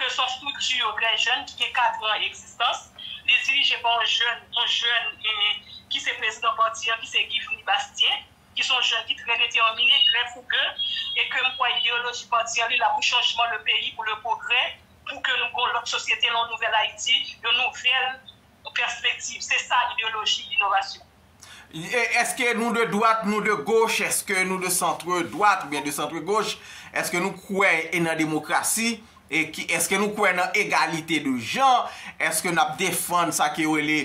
ke son strikti yo trè jèn ki gen 4 an egzistans, li dirije pa yon jèn, yon jèn ki se prezidan pati an ki se Givry Bastien, ki son jèn ki trè detèmine, trè fouge, e ke m kwè ideyoloji pati an li la pou chanjman le peyi, pou le pwogrè, pou ke nou gen yon lòt sosyete, yon nouvèl Ayiti, yon nouvèl pèspektiv. Se sa ideyoloji inovasyon. Eske nou de dwat, nou de goch, eske nou de santre dwat oubyen de santre goch, eske nou kwè e nan demokrasi, eske nou kwè nan egalite de jan, eske n ap defann sa ke yo rele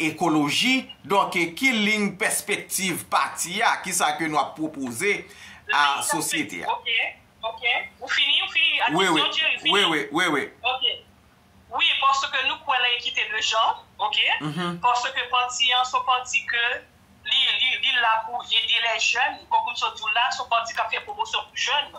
ekoloji, donk ki lin pèspektiv pati a, ki sa ke nou ap pwopoze a sosyete a. Ok, ok, ou fini, ou fini ak kesyon Jerry, ou fini? Wi, wi, wi, wi. Ok. Wi paske nou kwè nan ekite de jan ok paske pati an son pati ke li li la pou ede lè jèn konkou m sot diw la son pati kap fè pwomosyon pou jèn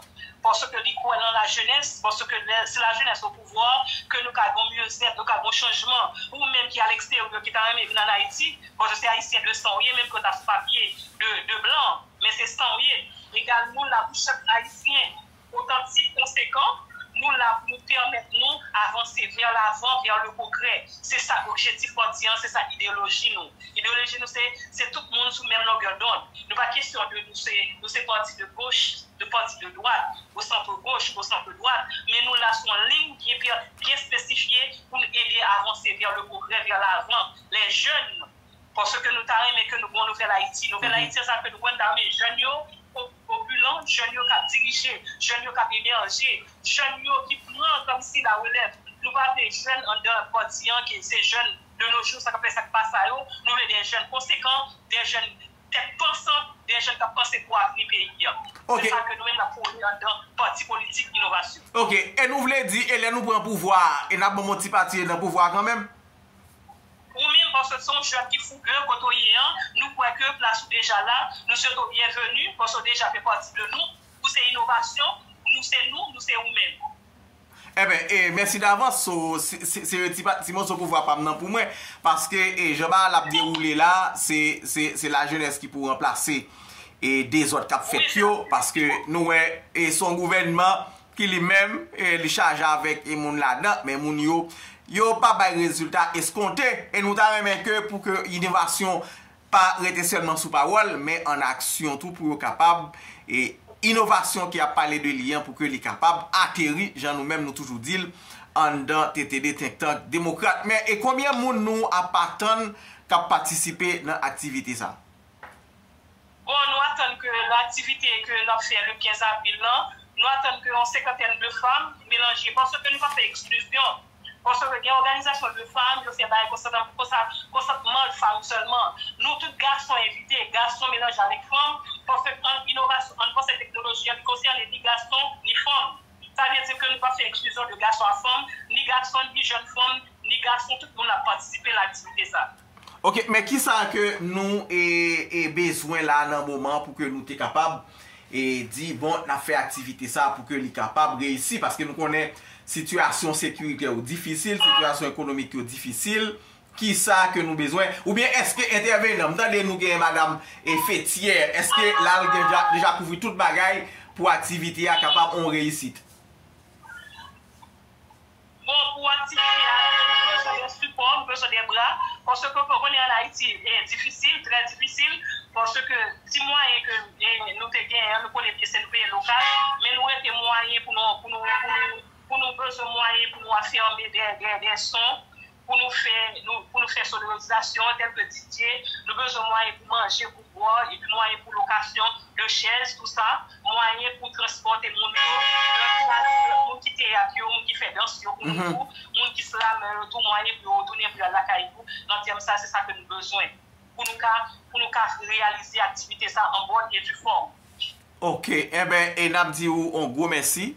paske li kwè nan la jenès paske lè si la jenès o pouvwa ke nou ka gon myezèt nou ka gon chanjman ou menm ki aleksteryo ki ta renmen vin an ayiti paske se ayisyen de san ou ye menm ke w ta sou papye de blan men se san ou ye egal nou la pou chak ayisyen otantik, konsekan, nou la pou nou pèmèt nou avanse vè lavan, vè le pwogrè. Se sa objetif pati an, se sa ideyoloji nou. Ideyoloji nou se, se tout moun sou menm longè dond. Nou pa kesyon de nou se, nou se pati de goch, nou pati de dwat, o santre goch, o santre dwat, men nou la sou yon liy byen espesifye pou nou ede avanse vè le pwogrè, vè lavan. Lè jèn nou. Paske nou ta renmen ke nou gen yon nouvèl Ayiti. Nouvèl Ayiti an sa ke nou wè la men jèn yo opilan, jèn yo k ap dirije, jèn yo k ap emerje, jèn yo ki pran kòmsi la relèv. Nou pa vle jèn anndan pati an ke se jèn de nos jours sa k ap fè sa k pa sa yo. Nou vle de jèn konsekan, de jèn tèt pansan, de jèn k ap panse pou avni peyi an. Se sa ke nou menm n ap pwone anndan Pati Politik Inovasyon. Ok. E nou vle di e lè nou pran pouvwa a e n ap banm yon ti pati e nan pouvwa a kanmenm? Ou menm paske se yon jèn ki fougueux kote ou ye an, nou kwè ke plas ou deja la, nou swete w byenveni paske w deja fè pati de nou, ou se inovasyon, nou se nou, nou se ou menm. Enben, e mèsi davans, so se yon ti moso pouvwa pa m nan pou mwen, paske jan bagay la ap dewoule la, se lajenès ki pou ranplase dezòd k ap fèt yo, paske nou wè se yon gouvènman ki li menm li chaje avèk moun ladan, men moun yo, yo pa bay rezilta eskonte, e nou ta renmen ke pou ke innovasyon pa rete sèlman sou pawòl, men an aksyon tou pou yo kapab, e inovasyon ki ap pale de li an pou ke li kapab ateri, jan nou menm nou toujou di l, anndan tete 2 think tank demokrat. Men e konbyen moun nou ap atann k ap patisipe nan aktivite sa? Bon, nou atann ke nan aktivite ke nap fè le 15 avril lan, nou atann ke yon senkantèn de fanm melanje, paske nou pa fè eksklizyon, paske gen òganizasyon de fanm, yo fè bagay konsa nan konsa, konsantman fanm sèlman. Nou tout gason envite, gason melanje avèk fanm, paske ann inovasyon, ann panse teknoloji an li konsène ni gason, ni fanm. Sa vle di ke nou pa fè eksklizyon de gason a fanm, ni gason, ni jèn fanm, ni gason, tout moun ap patisipe nan aktivite sa. Ok men kisa ke nou bezwen la nan moman pou ke nou te kapab di bon nap fè aktivite sa pou ke li kapab reyisi paske nou konnen sitiyasyon sekirite yo difisil, sitiyasyon ekonomik yo difisil kisa ke nou bezwen ou byen eske entèvenan m tande nou gen madam Fethiè eske lal deja kouvri tout bagay pou aktivite a kapab on reyisit. Bon pou aktivite a vre nou bezwen yon sipò, nou bezwen de bra, paske ke konnen an Ayiti e difisil, trè difisil, paske ti mwayen ke nou te genyen an nou konnen byen se nou peye lokal, men nou rete mwayen pou nou pou nou pou nou pou nou bezwen mwayen pou nou afème dè dè son pou nou fè pou nou fè sonorizasyon an tèlke DJ, nou bezwen mwayen pou manje, pou bwè, epi mwayen pou lokasyon de chèz tou sa, mwayen pou transpòte moun yo, moun ki teyat yo, moun ki fè dans yo pou nou tou, moun ki slamè yo tou mwayen pou yo tounen pou yo al lakay yo nan tèm sa se sa ke nou bezwen pou nou ka pou nou ka reyalize aktivite sa an bòn e di fòm. Ok enben e nap di ou on gwo mèsi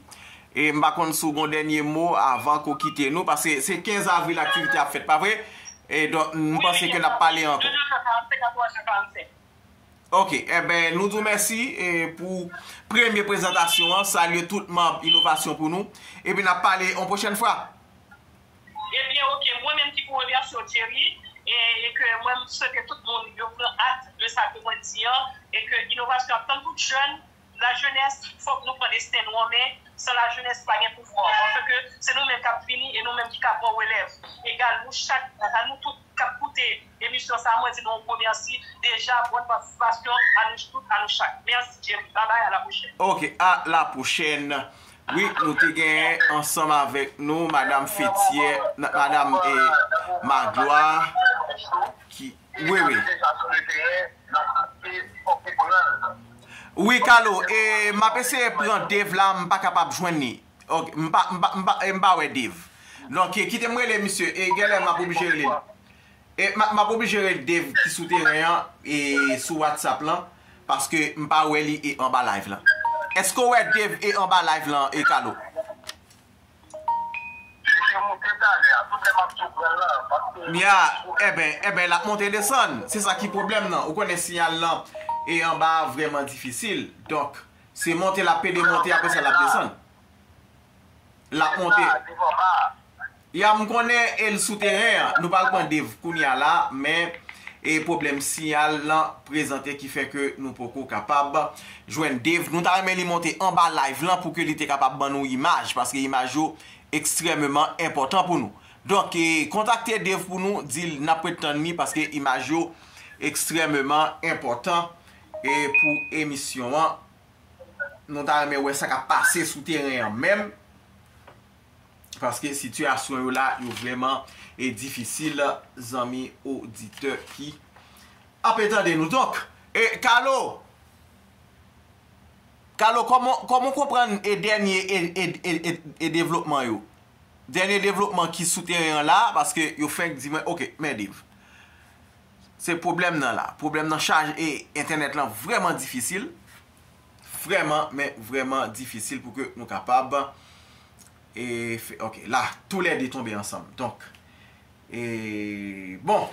e m pa konn si w gon dènye mo avan ke w kite nou paske se 15 avril aktivite ap fèt pa vre e donk m panse ke nap pale ankò. Ok enben nou di w mèsi e pou premye prezantasyon an salye tout manb inovasyon pou nou epi nap pale on pwochèn fwa. Ebyen ok mwen menm ki pou remèsye w Thierry e ke mwen swete tout moun yo pran act de sa ke mwen di an e ke inovasyon ap tann tout jèn la jenès fòk nou pran desten nou an men san la jenès pa gen pouvwa paske ke se nou menm kap vini e nou menm ki ka pran relèv egal nou chak a nou tout kap koute emisyon sa mwen di nou yon gwo mèsi deja bòn patisipasyon a nou tout a nou chak mèsi Thierry babay a la pwochèn. Ok a la pwochèn Wi nou te genyen ansanm avèk nou madam Fethiè nan madam e Magloire ki wi wi. Wi Carlo e map eseye pran Dave la m pa kapab jwenn li ok m pa m pa m pa wè Dave donk kite m rele misye e genlè map oblije rele l. M ap oblije rele Dave ki sou teren an sou whatsapp lan paske m pa wè li e anba live lan. Eske w wè Dave e anba live lan e Carlo? Li te moute talè a, tout lè m ap di w pran l la paske. Ya, enben, enben l ap monte desann. Se sa ki pwoblèm nan. Ou konnen siyal lan e anba a vrèman difisil. Donk, se monte l ap pede monte apre sa l ap desann. L ap monte. Li pa anba a, li pa anba a. Ya m konnen e l sou teren an. Nou pral pran Dave kounya la men e pwoblèm siyal lan prezante ki fè ke nou poko kapab jwenn Dave. Nou ta renmen li monte anba live lan pou ke li te kapab ban nou imaj paske imaj yo ekstrèmeman enpòtan pou nou. Donk e kontakte Dave pou nou di l n ap ret tann li paske imaj yo ekstrèmeman enpòtan e pou emisyon an. Nou ta renmen wè sa k ap pase sou teren an menm. paske sitiyasyon yo la yo vreman e difisil zanmi oditè ki ape tande nou donk e kalo kalo koman ou konprann e dènye e devlopman yo dènye devlopman ki sou teren an la paske yo fenk di mwen ok mèdiv se pwoblèm nan la pwoblèm nan chaj e entènèt lan vreman difisil Vreman men vreman difisil pou ke nou kapab e fe ok la tou le 2 tonbe ansanm donk e bon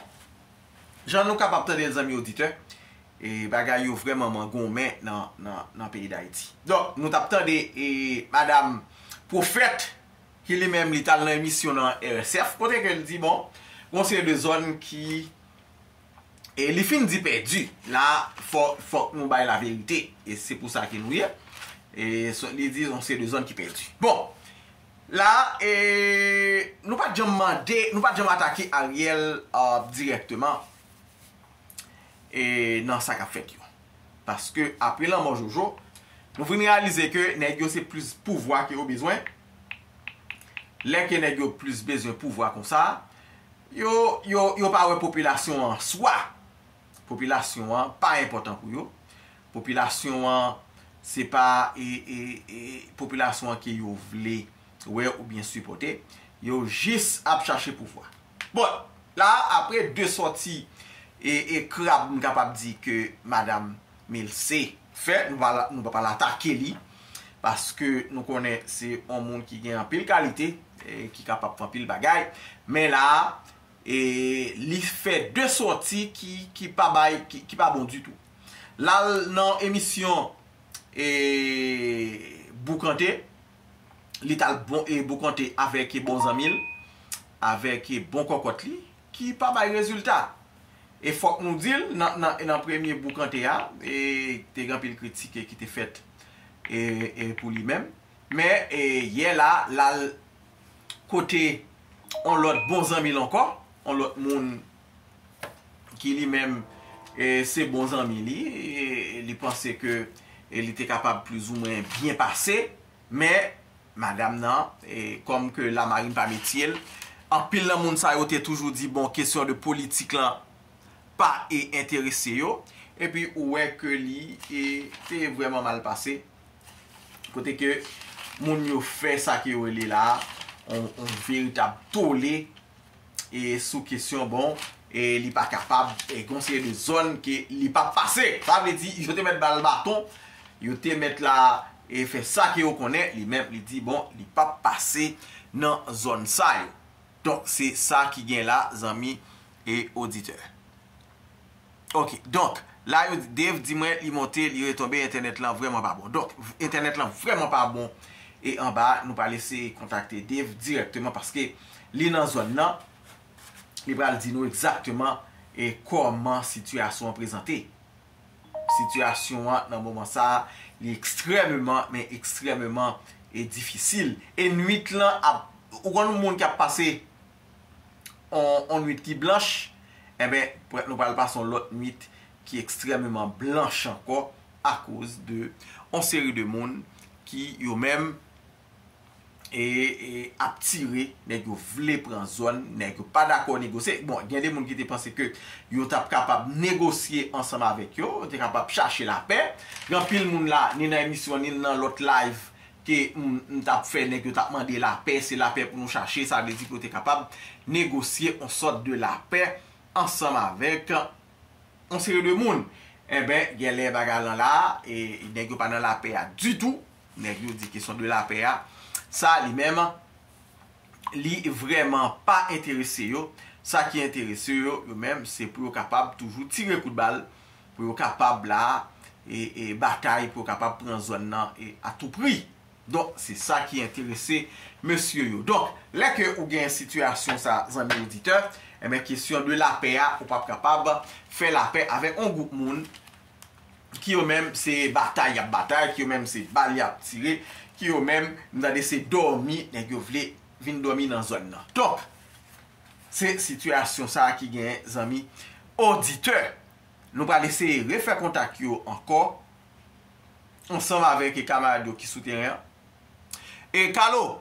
jan nou kapab tande l zanmi oditè e bagay yo vreman man gonmen nan nan nan peyi dayiti donk nou tap tande e madam pwofèt ki li menm li tal nan emisyon nan RSF kote ke l di bon gon seri de zòn ki e li fin di pèdi la fò fòk nou bay la verite e se pou sa ke nou ye e sot li di se de zòn ki pèdi bon la e nou pat janm mande nou pat janm atake ariel direkteman e nan sa kap fèt yo paske apre lanmò jojo nou fin reyalize ke nèg yo se plis pouvwa ke yo bezwen Lè ke nèg yo plis bezwen pouvwa konsa, yo, yo, yo pa wè popilasyon an an swa. Popilasyon an pa enpòtan pou yo. Popilasyon an se pa e, e, e, popilasyon an ke yo vle wè oubyen sipòte. Yo jis ap chache pouvwa. Bon, la a, apre 2 sòti e, e krab m kapab di ke madam Milce fè nou pa nou pap al atake li paske nou konnen se yon moun ki gen anpil kalite ki kapab fè anpil bagay men la a e li fè 2 sòti ki ki pa bay ki pa bon ditou lal nan emisyon e boukante li tal bon e boukante avèk bon zanmi l avèk bon kòkòt li ki pa bay rezilta. E fòk nou di l, nan premye boukante a, te gen anpil kritike ki te fèt pou li menm. Men, yè la, l al kote yon lòt bon zanmi l ankò, yon lòt moun ki li menm se bon zanmi li, li panse ke li te kapab plizoumwen byen pase. Men, madam nan, kòm ke lamarin pa metye l, anpil nan moun sa yo te toujou di bon kesyon de politik lan pa e enterese yo, epi ou wè ke li e te vrèman mal pase, kote ke moun yo fè sa ke yo rele la a on veritab tole e sou kesyon bon e li pa kapab e gon seri de zòn ke li pap pase. Sa vle di yo te mèt ba l baton, yo te mèt la e fè sa ke yo konnen, li menm li di bon li pap pase nan zòn sa yo. Donk se sa ki gen la zanmi e oditè. Ok donk la yo di Dave di mwen li monte li retonbe entènèt lan vrèman pa bon donk entènèt lan vrèman pa bon e anba a nou pral eseye kontakte Dave dirèkteman paske li nan zòn nan li pral di nou egzakteman e kòman sitiyasyon an prezante sitiyasyon an nan moman sa li ekstrèmeman men ekstrèmeman e difisil e nwit lan ap ou konn moun ki ap pase on nwit ki blanch, enben, prèt nou pral pase on lòt nwit ki ekstrèmeman blanch ankò akoz de on seri de moun ki yo menm e ap tire nèg yo vle pran zòn, nèg yo pa dakò negosye. Bon, gen de moun ki te panse ke yo t ap kapab negosye ansanm avèk yo, yo te kapab chache lapè. Gen anpil moun la, ni nan emisyon, ni nan lòt live, ke m t ap fè nèg yo t ap mande lapè, se lapè pou nou chache, sa vle di pou yo te kapab negosye on sòt de lapè ansanm avèk on seri de moun. Enben, genlè bagay lan la, e nèg yo pa nan lapè a ditou, nèg yo di kesyon de lapè a, sa li menm, li vrèman pa enterese yo, sa ki enterese yo yo menm se pou yo kapab toujou tire kout bal, pou yo kapab la e batay pou yo kapab pran zòn nan a tou pri. Donk se sa ki enterese mesye yo. Donk lè ke ou gen sitiyasyon sa zanmi oditè, enben kesyon de lapè a ou pap kapab fè lapè avèk on gwoup moun ki yo menm se batay yap batay, ki yo menm se bal yap tire, ki yo menm m tande se dòmi nèg yo vle vin dòmi nan zòn nan. Donk, se sitiyasyon sa ki genyen zanmi oditè. Nou pral eseye refè kontak yo ankò ansanm avèk kamarad yo ki sou teren an. E Kalo!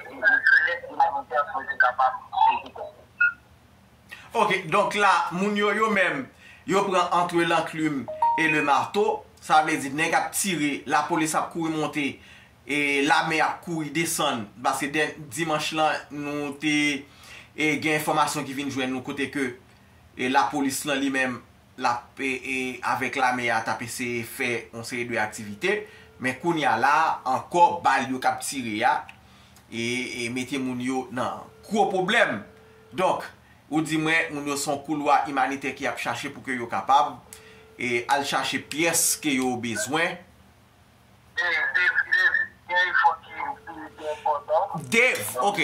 Epi gen kilè imanitè pou yo te kapab sezi tèt yo. Ok, donk la, moun yo yo menm, yo pran antre lanklim e le marto, sa vle di nèg ap tire, lapolis ap kouri monte, e lame ap kouri desann, paske dè, dimanch la, nou te, e gen enfòmasyon ki vin jwenn nou kote ke, e lapolis lan li menm, lap avèk lame a tap eseye fè yon seri de aktivite men kounya la ankò bal yo kap tire a e mete moun yo nan gwo pwoblèm donk ou di mwen moun yo son koulwa imanitè ki ap chache pou ke yo kapab al chache pyès ke yo bezwen. Dave ok.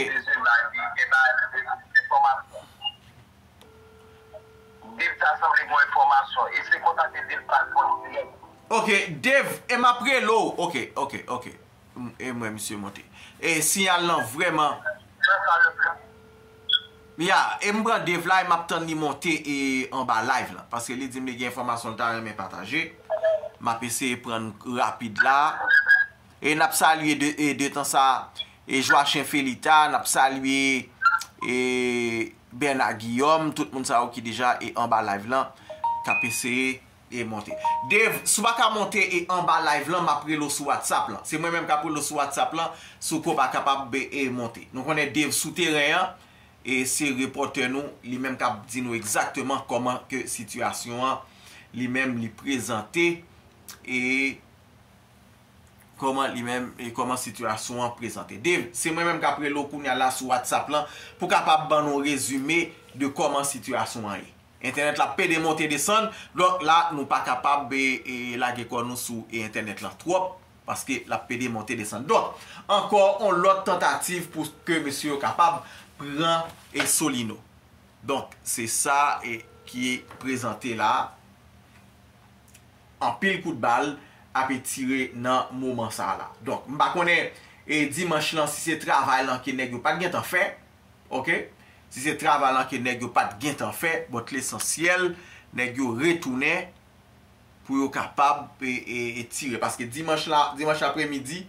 Dave ta sanble gen enfòmasyon. Eseye kontakte Dave pa jwenn dirèk. Ok Dave e map rele w ok ok ok e m wè misye monte e siyal lan vrèman Fè sa le pli Ya e m pran Dave la e map tann li monte e anba live lan paske li di m li gen enfòmasyon l ta renmen pataje map eseye pran l rapid la e nap salye de tan sa e Joachim Felita nap salye e. Bernard Guillaume, tout moun sa yo ki deja e anba live lan kap eseye e monte. Dave, si w pa ka monte e anba live lan map rele w sou WhatsApp lan. Se mwen menm kap rele w sou WhatsApp lan si w ko pa kapab be e monte. Nou konnen Dave sou teren an e se repòtè nou li menm kap di nou egzakteman kòman ke sitiyasyon an li menm li prezante e Kòman li menm e kòman sitiyasyon an prezante. Dave, se mwen menm k ap rele w kounya la sou whatsapp lan pou kapab ban nou yon rezime de kòman sitiyasyon an ye. Entènèt la pede monte desann, donk la nou pa kapab lage kò nou sou entènèt lan twòp paske l ap pede monte desann. Donk, ankò yon lòt tantativ pou ke mesye yo kapab pran Solino. Donk, se sa ki prezante la a. anpil kout bal ape tire nan moman sa la. Donk m pa konnen e dimanch lan si se travay lan ke nèg yo pat gentan fè ok, si se travay lan ke nèg yo pat gentan fè but lesansyèl nèg yo retounen pou yo kapab e tire paske dimanch la dimanch apre midi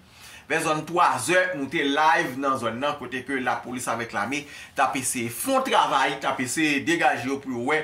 vè zòn 3 zè nou te live nan zòn nan kote ke lapolis avèk lame tap eseye fon travay tap eseye degaje yo pou yo wè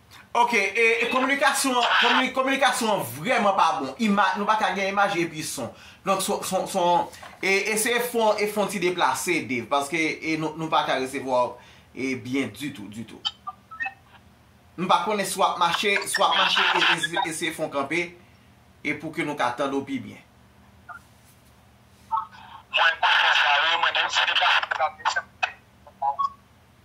Ok e kominikasyon an kominikasyon an vrèman pa bon imaj nou paka gen imaj epi son donk son e eseye fon e fon ti deplase Dave paske e nou paka resevwa w e byen ditou ditou m pa konnen si w ap mache si w ap mache eseye fon kanpe e pou ke nou ka tande w pi byen Mwen pa fè sa wi mwen gen m se deplase m deplase m chèche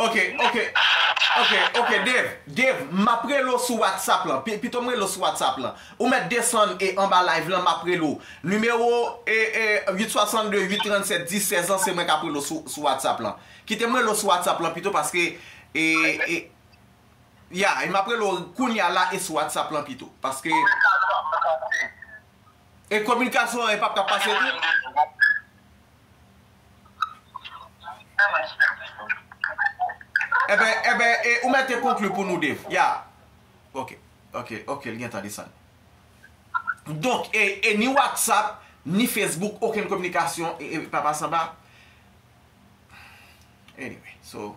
Ok ok ok ok Dave Dave map rele w sou whatsapp lan pito m rele w sou whatsapp lan ou mèt desann e anba live lan map rele w nimewo e e 8 62 8 37 10 16 lan se mwen kap rele w sou whatsapp lan kite m rele w sou whatsapp lan pito paske e e ya e map rele w kounya la e sou whatsapp lan pito paske. E kominikasyon an e pap ka pase tou? Eben, eben, e ou mete konkli pou nou Dave? Ya. Ok, ok, ok, li gentan desann. Donk, e, e ni WhatsApp, ni Facebook, okenn kominikasyon e pa pase anba? Anyway, so.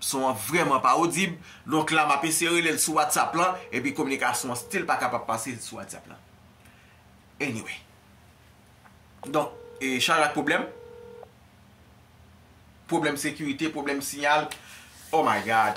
Son an vrèman pa odib, donk la map eseye rele l sou whatsapp lan epi kominikasyon an stil pa kapab pase sou whatsapp lan. Anyway. Donk, chaj ak pwoblèm. Pwoblèm sekirite, pwoblèm siyal. Oh my God!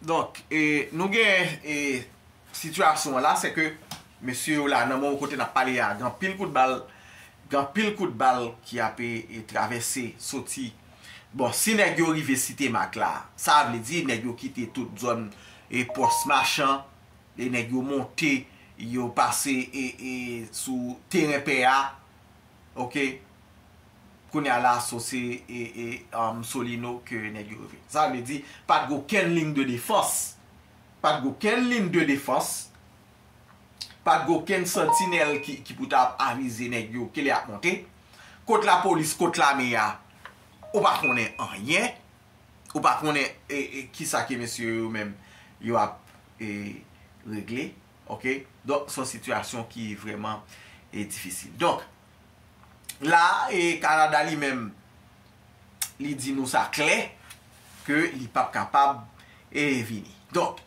Donk, e nou gen e sitiyasyon an la, se ke mesye yo la nan moman kote n ap pale a, gen anpil kout bal, gen anpil kout bal ki ape e travèse soti. Bon, si nèg yo rive site Mak la, sa vle di nèg yo kite tout zòn e pòs machan, e nèg yo monte, yo pase e e sou teren pè a, ok, Kounya la so se Solino ke nèg yo reve. Sa vle di pat gen okenn ligne de défense. Pat gen okenn ligne de défense. Pat gen okenn santinèl ki pou ta ap avize nèg yo ke lè yap monte. Kot lapolis, kot lame a, ou pa konnen anyen. Ou pa konnen ki sa ke mesye yo menm yo ap regle. Ok. Donk son sitiyasyon ki vreman difisil. Donk. la e Kanada li menm li di nou sa klè ke li pap kapab e vini. Donk,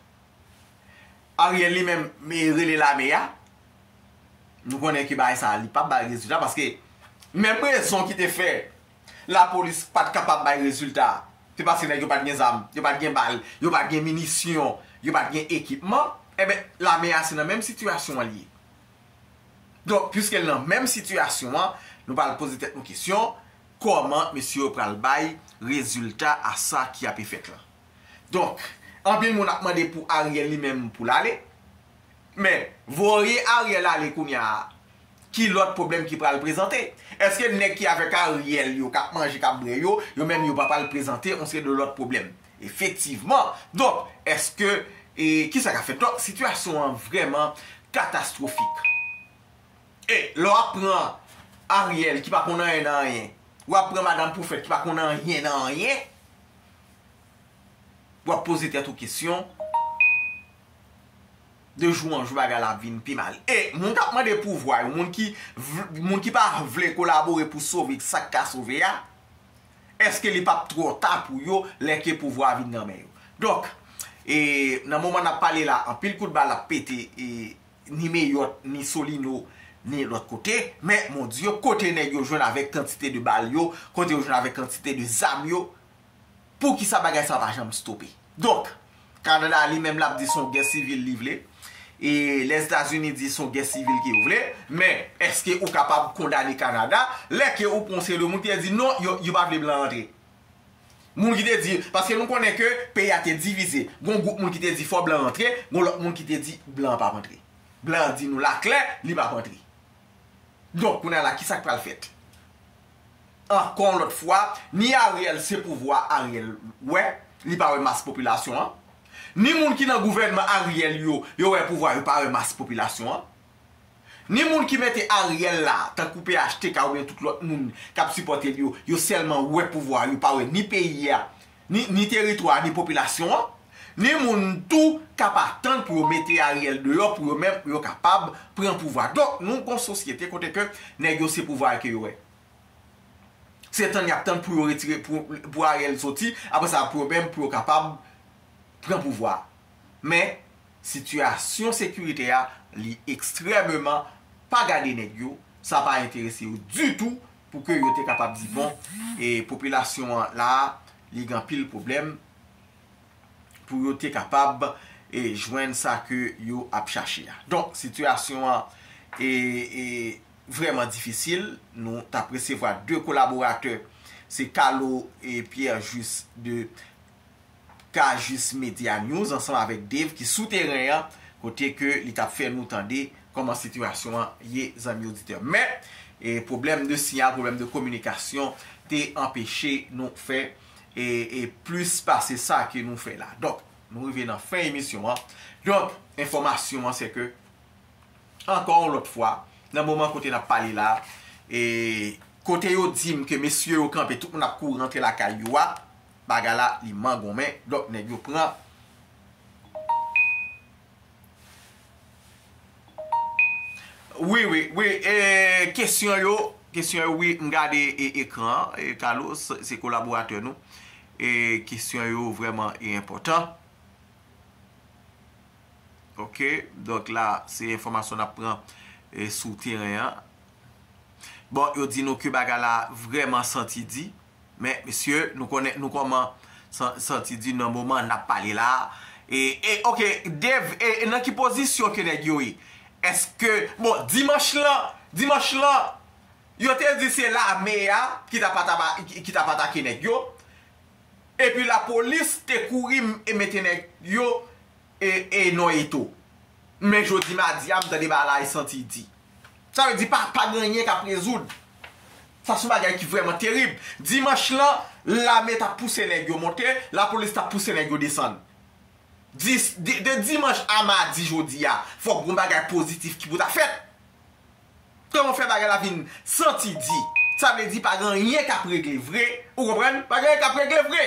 Ariel li menm me rele lame ya, nou konnen ke bagay sa li pap bay rezilta paske menm rezon ki te fè la polis pat kapab bay rezilta se paske nèg yo pat gen zam, yo pat gen bal, yo pat gen minisyon, yo pat gen ekipman, e ben lame ya se nan menm sitiyasyon li ye. Donk, pwiske l nan menm sitiyasyon an, nou pral poze tèt nou kesyon, kòman mesye yo pral bay rezilta a sa ki ape fèt lan? Donk, anpil moun ap mande pou Ariel li menm pou l ale, men, voye Ariel ale kounye a, ki lòt pwoblèm ki pral prezante? Èske nèg ki avèk Ariel yo, k ap manje, k ap bwè yo, yo menm yo pa pral prezante yon seri de lòt pwoblèm? Efektivman, donk eske e ki sa k ap fèt? Donk sitiyasyon an vrèman katastwofik. E lè w ap pran Ariel ki pa konn anyen nan anyen, w ap pran Madam Pwofèt ki pa konn anyen nan anyen, w ap poze tèt ou kesyon, de jou an jou bagay la ap vin pi mal. E moun k ap mande pouvwa yo, moun ki vl moun ki pa vle kolabore pou sove sa k ka sove a, Eske li pap twò ta pou yo lè ke pouvwa a vin nan men yo? Donk, e nan moman n ap pale la, anpil kout bal ap pete e ni Meyòt, ni Solino, ni lòt kote. Men, mon Dye, kote nèg yo jwenn avèk kantite de bal yo, kote yo jwenn avèk kantite de zam yo, poukisa bagay sa pa janm stope? Donk. Kanada li menm lap di son gè sivil li vle e lèzetazini di son gè sivil ke yo vle men eske ou kapab kondane kanada lè ke ou pran yon seri de moun ki te di non yo pa vle blan antre moun ki te di paske nou konnen ke peyi a te divize gon gwoup moun ki te di fò blan antre gon lòt moun ki te di blan pap antre blan di nou la klè li pap antre donk kounye a la kisa ki pral fèt. ankò yon lòt fwa ni Ariel se pouvwa Ariel wè, li pa wè mas popilasyon an, ni moun ki nan gouvènman Ariel yo, yo wè pouvwa yo pa wè mas popilasyon an, ni moun ki mete Ariel la tankou phtk oubyen tout lòt moun k ap sipòte l yo, yo sèlman wè pouvwa yo pa wè ni peyi a, Ni teritwa ni popilasyon an, ni moun tou k ap atann pou yo mete Ariel deyò pou yo menm yo kapab pran pouvwa. Donk nou gon sosyete kote ke nèg yo se pouvwa a ke yo wè. Se tann y ap tann pou yo retire pou Ariel soti apre sa pou yo menm pou yo kapab pran pouvwa a. Men sitiyasyon sekirite a li ekstrèmeman pa gade nèg yo, sa pa enterese yo ditou pou ke yo te kapab di bon, e popilasyon an la, li gen anpil pwoblèm, pou yo te kapab e jwenn sa ke yo ap chache a. Donk, sitiyasyon an e vreman difisil, nou tap resevwa 2 kolaboratè, se Calo e Pierre Juste de Cajuste Media News ansanm avèk Dave ki sou teren an kote ke li tap fè nou tande kòman sitiyasyon an ye zanmi oditè. Men, pwoblèm de siyal, pwoblèm de kominikasyon te anpeche nou fè plis pase sa ke nou fè la. Donk, nou rive nan fen emisyon an. Donk, enfòmasyon an se ke ankò yon lòt fwa, nan moman kote nap pale la, kote yo dim ke mesye yo kanpe, tout moun ap kouri rantre lakay yo a, bagay la li mangonmen donk nèg yo pran Wi wi wi kesyon yo kesyon yo wi m gade ekran an Carlos se kolaboratè nou kesyon yo vrèman enpòtan ok donk la se enfòmasyon n ap pran sou teren an bon yo di nou ke bagay la vrèman santi di. Men mesye nou konnen nou koman santi di nan moman nap pale la e e ok Dave e nan ki pozisyon ke nèg yo ye eske bon dimanch lan dimanch lan yo te di se lame a ki ta pa taba ki tap atake nèg yo epi la polis te kouri e mete nèg yo e e non eto men jodi madi a m tande bagay santi di. Sa vle di pa pa gen anyen k ap rezoud. Sa son bagay ki vrèman terib. Dimanch lan, lame t ap pouse nèg yo monte, lapolis t ap pouse nèg yo desann. Di, de dimanch a madi jodi a, fòk gon bagay pozitif ki pou ta fèt. Kòman fè bagay la vin santi di? Sa vle di pa gen anyen k ap regle vre, ou konprann? Pa gen anyen k ap regle vre!